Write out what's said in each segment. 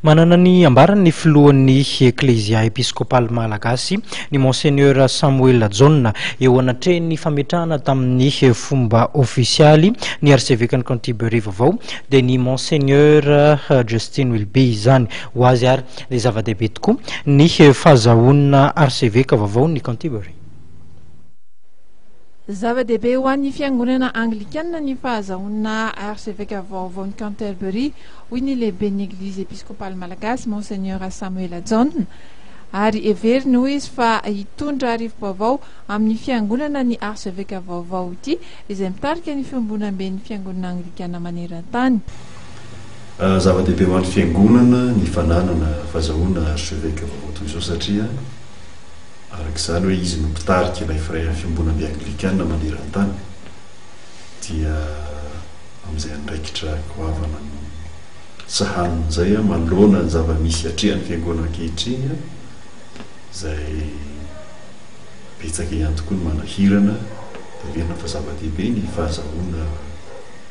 Manana ny ambarany ny filohan'ny Eklezia Episkopaly Malagasy, ny Monseigneur Samoela Jaona, eo anatrehin'ny fametrahana tamin'ny fomba ofisialy ny Arsevekan'i Canterbury vaovao, dia ny Monseigneur Justin Wilby izany. Ho azy ary, dia zava-dehibe tokoa ny fahazahoana Arseveka vaovaon'i Canterbury. Zava-dehibe ho an'ny Fiangonana Anglikana ny fahazahoana Arseveka vaovaon'i Canterbury. hoy ny lehiben'ny Eglizy Episkopaly Malagasy, Monseigneur Samuela Jaona, ary heveriny, hoy izy, fa hitondra arivo-baovao amin'ny Fiangonana ny Arseveka vaovao ity, izay mitarika ny Fiombonamben'ny Fiangonana Anglikana maneran-tany. Zava-dehibe ho an'ny Fiangonana ny fananana fazahoana Arseveka vaovao toy izao, satria araka izany hoe izy no mpitarika ilay Firaian'ny Fiombonambe Anglikana maneran-tany, dia. amin'izay andraikitra goavana no sahaniny izay aho manoloana ny zava-misy atrehan'ny Fiangonana ankehitriny aho, izay betsaka ihany tokoa ny manahirana, dia heverina fa zava-dehibe ny fahazahoana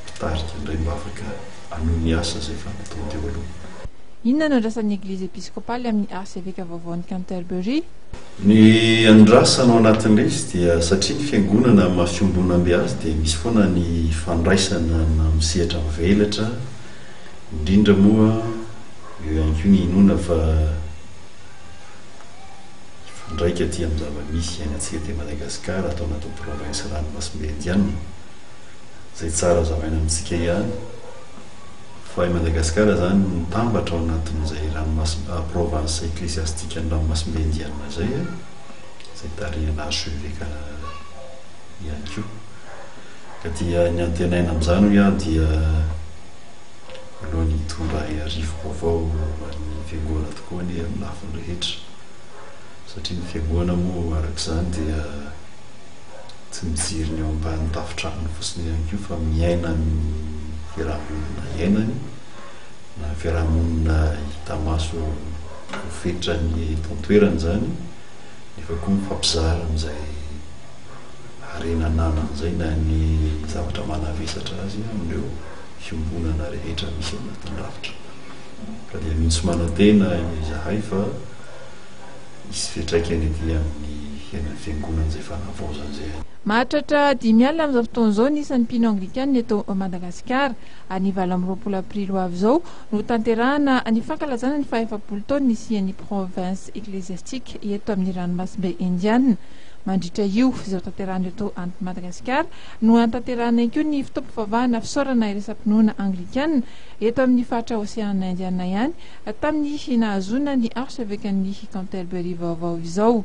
mpitarika indray mba afaka hanohy ny asa izay efa nataony teo aloha. Inona no andrasan'ny Eglizy Episkopaly amin'ny Arseveka vaovaon'i Canterbury? Ny andrasana ao anatin'ilay izy dia satria ny fiangonana amin'ny maha fiombonambe azy dia misy foana ny fandraisana amin'ny sehatra mivelatra, indrindra moa eo ihany koa ny inoana fa hifandraika aty amin'ny zava-misy iainantsika aty Madagasikara ato anatin'ny province ranomasimbe Indiana, izay tsara hazavaina amintsika ihany. fa i Madagasikara izany no mitambatra ao anatin'izay ranomasimb province eklesiastikan'ny ranomasimbe indiana izay a, izay tarihan'ny archevêque Canada ihany koa. Ka dia ny antenaina amin'izany hoy aho dia aleo ny hitondra rivo-baovao ho an'ny fiangoana tokoa anie amin'ny lafiny rehetra, satria ny fiangoana moa araka izany dia. tsy mijery ny eo ambanin'ny tafon-tranony fotsiny ihany koa fa miaina ny fiarahamonina iainany na fiarahamonina hita maso ho fetrany eto an-toerana izany nefa koa mifampizara amin'izay harena ananany izay na ny zavatra manavesatra azy amin'ireo fiombonana rehetra misy anatin'ny rafitra ka dia mihitsy manantena izahay fa Hisy fiantraikany ety amin'ny henan'ny Fiangonana izay fanavaozana izay. Mahatratra dimy alina amin'izao fotoana izao ny isan'ny mpino Anglikana eto Madagasikara. Any valo amby roapolo aprily ho avy izao no hotanterahana ny fankalazana ny fahefapolo taon'ny nisian'ny Province Ecclesiastique eto amin'ny Ranomasimbe Indiana. Mandritra io izay hotanterahana eto Madagasikara no hanatanterahana ihany koa ny fotoam-pivavahana fisaorana iraisampinoana Anglikana eto amin'ny faritra Oseana Indiana ihany Tamin'ny nahazoana ny archeveque-n'ny Canterbury vaovao izao.